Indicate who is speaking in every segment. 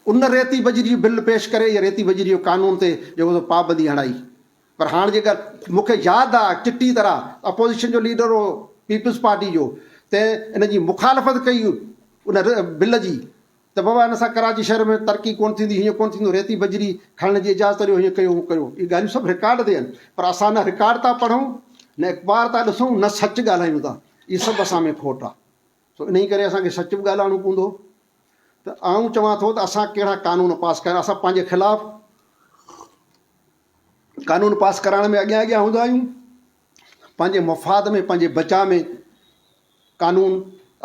Speaker 1: ان ريتي بجري جو بل پيش ڪري يا ريتي بجري جو قانون تي جيڪو سو پابندي هڻائي پر هاڻ جيڪر مون کي ياد آ چٽي طرح اپوزيشن جو ليڊر هو پيپلز پارٽي جو تنهن ان جي مخالفت ڪئي ان بل جي ته بابا ان سان ڪراچي شهر ۾ ترقي ڪونه ٿيندي هيئن ڪونه ٿيندو ريتي بجري کڻڻ جي اجازت ڏيو هيئن ڪيو هون ڪيو اهي ڳالهيون سڀ رڪارڊ تي آهن پر اسان نه رڪارڊ ٿا پڙهون نه اخبار ٿا ڏسون نه سچ ڳالهايون ٿا اهي سڀ اسان ۾ کوٽ آ سو انهيء ڪري اسان کي سچ به ڳالهائڻو پوندو ته آئون چوان ٿو ته اسان ڪهڙا قانون پاس ڪيا آهن. اسان پنهنجي خلاف قانون پاس ڪرائڻ ۾ اڳيان اڳيان هوندا آهيون. پنهنجي مفاد ۾ پنهنجي بچاء ۾ قانون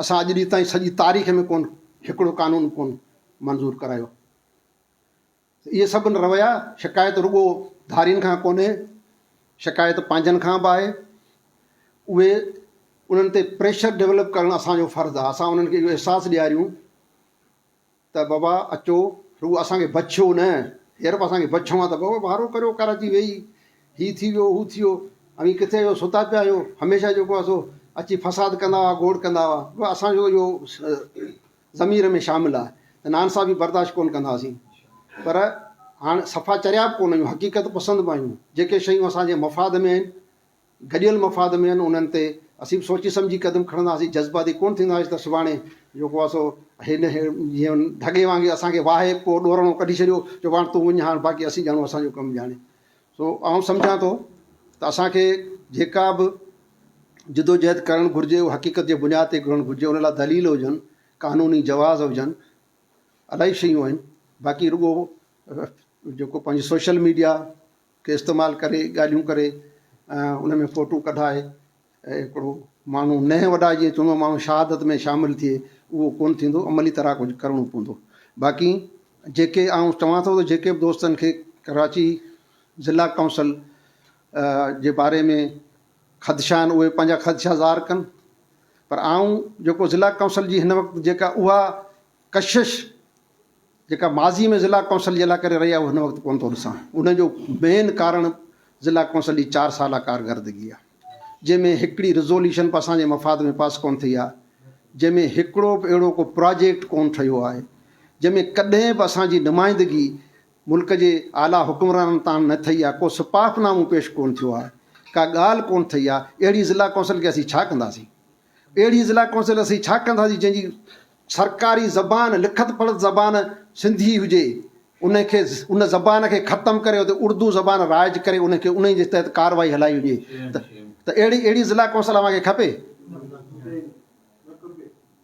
Speaker 1: اسان اڄ ڏينهن تائين سڄي تاريخ ۾ ڪونه هڪڙو قانون به ڪونه منظور ڪرايو. اهي سڀ رويا، شڪايت رڳو ڌارين کان ڪونهي، شڪايت پنهنجن کان به آهي. اهي انهن تي پريشر ڊولپ ڪرڻ اسان جو فرض آهي. اسان انهن کي اهو احساس ڏياريون ته بابا اچو، رڳو اسان کي بڇيو نه، هينئر به اسان کي بڇڻو آهي ته بابا وارو ڪريو ڪراچي ويهي، هي ٿي ويو، هو ٿي ويو، اوهين ڪٿي آهيو، ستا پيا آهيو، هميشه جيڪو آهي سو اچي فساد ڪندا هئا، گوڙ ڪندا هئا. اسان جو اهو ضمير ۾ شامل آ ته نانسا به برداشت ڪونه ڪنداسين پر هاڻ صفا چريا به ڪونه آهيون حقيقت پسند به آهيون جيڪي شيون اسان جي مفاد ۾ آهن گڏيل مفاد ۾ آهن انهن تي اسين به سوچي سمجهي قدم کڻنداسين جذباتي ڪونه ٿينداسين ته سڀاڻي جيڪو آ سو هن جيون ڍڳي وانگي اسان کي واهي پوء ڏورڻو ڪڍي ڇڏيو جو هاڻ تون وڃ هاڻ باقي اسين ڄاڻون اسان جو ڪم ڄاڻي سو آئون سمجهان ٿو ته اسان کي جيڪا به جدوجهد ڪرڻ گهرجي اهو حقيقت جي بنياد تي ڪرڻ گهرجي ان لاء دليل هجن قانوني جواز هجن الاهي شيون آهن باقي رڳو جيڪو پنهنجي سوشل ميڊيا کي استعمال ڪري ڳالهيون ڪري ان ۾ فوٽو ڪڍائي اهي هڪڙو ماڻهو نهن وڏا جيئن چوڻو ماڻهو شهادت ۾ شامل ٿئي اهو ڪونه ٿيندو عملي طرح ڪجهه ڪرڻو پوندو باقي جيڪي آئون چوان ٿو ته جيڪي به دوستن کي ڪراچي ضلع ڪائونسل جي باري ۾ خدشا آهن اهي پنهنجا خدشا ظاهر ڪن پر آئون جيڪو ضلع ڪائونسل جي هن وقت جيڪا اها ڪشش جيڪا ماضي ۾ ضلع ڪونسل جي لاء ڪري رهي آهي اهو هن وقت ڪونه ٿو ڏسان ان جو مين ڪارڻ ضلع ڪونسل جي چار سالا ڪارگردگي آهي جنهن ۾ هڪڙي رزوليشن به اسان جي مفاد ۾ پاس ڪونه ٿي آهي جنهن ۾ هڪڙو به اهڙو ڪو پراجيڪٽ ڪونه ٺهيو آهي جنهن ۾ ڪڏهن به اسان جي نمائندگي ملڪ جي اعليٰ حڪمرانن تان نه ٿي آهي ڪو سپاف نامو پيش ڪونه ٿيو آهي ڪا ڳالهه ڪونه ٿي آهي اهڙي ضلع ڪونسل کي اسين ڇا ڪنداسين اهڙي ضلع ڪونسل اسين ڇا ڪنداسين جنهن جي سرڪاري زبان لکت پڙهت زبان سنڌي هجي ان کي ان زبان کي ختم ڪري اتي اردو زبان رائج ڪري ان کي انهي جي تحت ڪارروائي هلائي وڃي ته ته اهڙي اهڙي ضلع ڪونسل اوهان کي کپي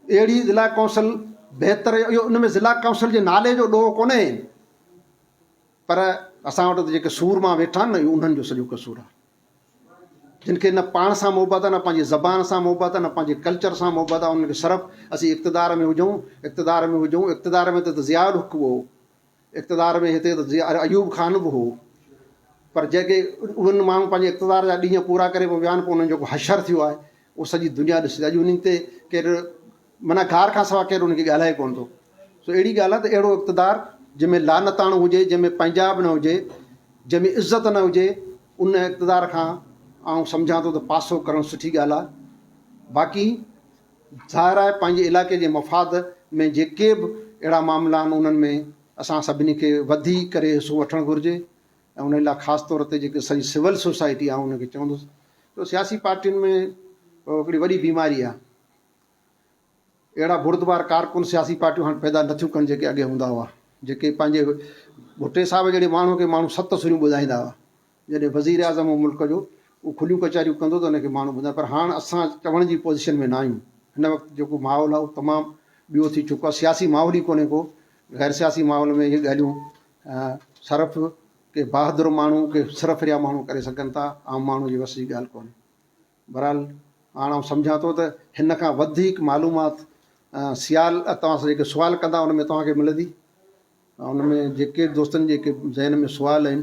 Speaker 1: اهڙي ضلع ڪونسل بهتر اهو ان ۾ ضلع ڪونسل جي نالي جو ڏوهه ڪونهي پر اسان وٽ جيڪي سورما ويٺا آهن نه اهو انهن جو سڄو قصور آهي جن کي نه پاڻ سان محبت آ نه پنهنجي زبان سان محبت آ نه پنهنجي ڪلچر سان محبت آ انهن کي صرف اسين اقتدار ۾ هجون اقتدار ۾ هجون اقتدار ۾ هتي ته ضياء الحق به هو اقتدار ۾ هتي ته ضياء ايوب خان به هو پر جيڪي انهن ماڻهن پنهنجي اقتدار جا ڏينهن پورا ڪري پوء ويا آهن پوء انهن جو حشر ٿيو آهي اهو سڄي دنيا ڏسي ٿي اڄ انهن تي ڪير معنيٰ گار کان سوا ڪير ان کي ڳالهائي ڪونه ٿو. سو اهڙي ڳالهه آهي ته اهڙو اقتدار جنهن ۾ لعنتاڻو هجي، جنهن ۾ پنهنجاء به نه هجي، جنهن ۾ عزت نه هجي، ان اقتدار کان آئون سمجهان ٿو ته پاسو ڪرڻ سٺي ڳالهه آهي. باقي ظاهر آهي پنهنجي علائقي جي مفاد ۾ جيڪي به اهڙا معاملا آهن انهن ۾ اسان سڀني کي وڌي ڪري حصو وٺڻ گهرجي ۽ انهي لاء خاص طور تي جيڪي سڄي سول سوسائٽي آئون ان کي چوندس جو سياسي پارٽين ۾ هڪڙي وڏي بيماري آهي اهڙا بردبار ڪارڪن سياسي پارٽيون هاڻ پيدا نه ٿيون ڪن جيڪي اڳي هوندا هئا جيڪي پنهنجي ڀٽي صاحب جهڙي ماڻهو کي ماڻهو ست سريون ٻڌائيندا هئا جڏهن وزير اعظم هو ملڪ جو هو کليون ڪچهريون ڪندو ته ان کي ماڻهو ٻڌائين پر هاڻ اسان چوڻ جي پوزيشن ۾ نه آهيون هن وقت جيڪو ماحول آهي اهو تمام ٻيو ٿي چڪو آهي سياسي ماحول ئي ڪونهي ڪو غير سياسي ماحول ۾ اهي ڳالهيون صرف ڪي بهادر ماڻهو ڪي سرفريا ماڻهو ڪري سگهن ٿا عام ماڻهو جي وس جي ڳالهه ڪونهي بھرحال ھاڻ آئون سمجھان ٿو ته ھن کان وڌيڪ معلومات سيال توھان سان جيڪي سوال ڪندا ان ۾ توھان کي ملندي ان ۾ جيڪي دوستن جي ذھن ۾ سوال آھن